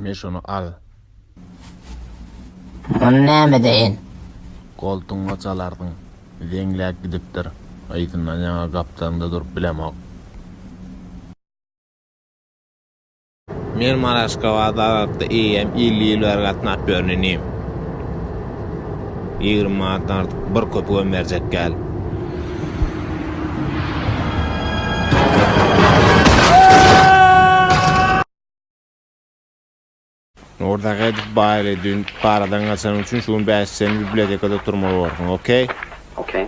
Men şunu al. Ony näme deýin? Goltuňa çalardyň. Zeňläp gidipdir. Yzyndan ýaňa gapdalynda durup bilemok. Men Maraşkabada arassa eýýäm elli ýyl bäri gatnap ýörün inim. Ýigrimi manatdan artyk bir köpügem berjek däl. Nurdagedow baýly dün paradan gaçanyň üçin şu gün bäş sen bibliotekada turmaly bolarsyň, okey? Okey.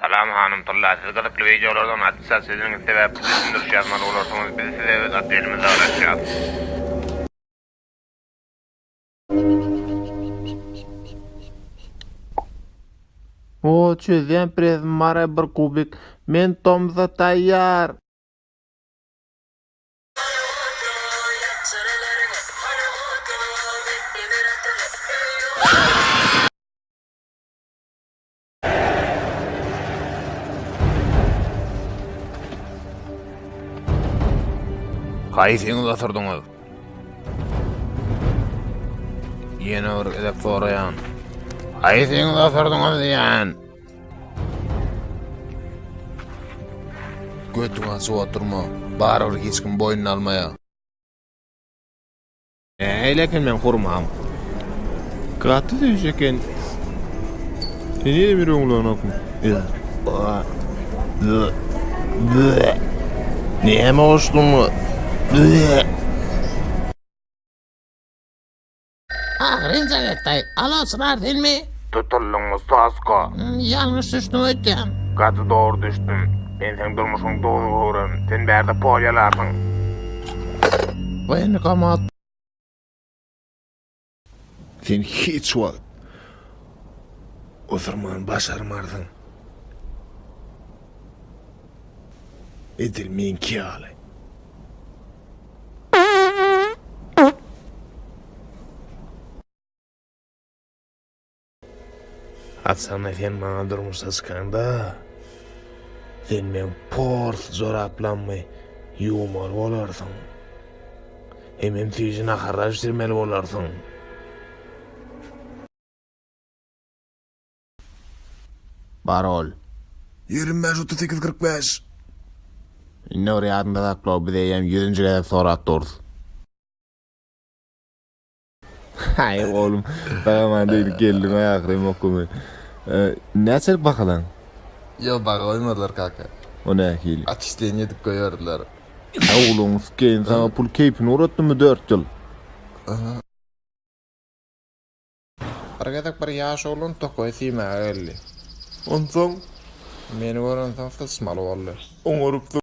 Salam hanym tylla siz gyzykly wideolardan atça siziniňiz sebäpli düşündiriş ýazmaly bolarsyňyz biz size öz otdelimizi agratýas. Oo çözýän prezim mara bir kubik men tomsa taýýar. Haýsyňyz otyrdyňyz? Ýene bir gezek soraýan. Haýsyňyz otyrdyňyz diýen? Götüňe suwa turma. Barybir hiç kim boýnuna almaýar. Şeýle eken meň hurmam. Gaty süýji eken. Sen ýene bir öňlenokmy? Näme goşduň? Agyrynja getdaý. Alo, Çynar senmi? Tutuldyň ustasko. Ýalňyş düşdüm öýtýän. Gaty dogry düşdüm. Men seň durmuşyň dowzugyryn. Sen bärde polýalarsyň. Waýenkomat. Sen hiç wagt oturman başarmarsyň. Edil meňki ýaly. Atsana sen maňa durmuşa çykaňda, sen meň pors joraplammy ýuwmaly bolarsyň. Hemem süýji naharlar bişirmeli bolarsyň. Parol. Ýigrimi bäş, otuz sekiz, kyrk bäş. Indi bir ýadynda sakla, biz eýýäm ýüzünji gezek sorap durus. Haý oglum, dagaman degdi geldim ahyry okumy. Näçelik bahalan? Ýok, baha goýmadylar kaka. O nähili? Atçisleniýa edip goýberdiler. Oglum, skeýin saňa pul keýpini uratdymy dört ýyl? Aha. Bir gezek bir ýaş oglan tokaýy siýmäge geldi. Onsoň? Meni görensoň sysmaly boldy. Oňarypdyr.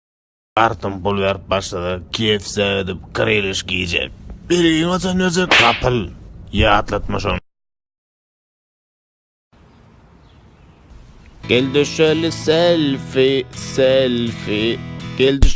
Artyň pul berip başlasa kfc gidip krylyşki iýjek. Belgini haçan berjek gapyl. Ýatlatma şony. Gel düşeli selfi selfi gel düş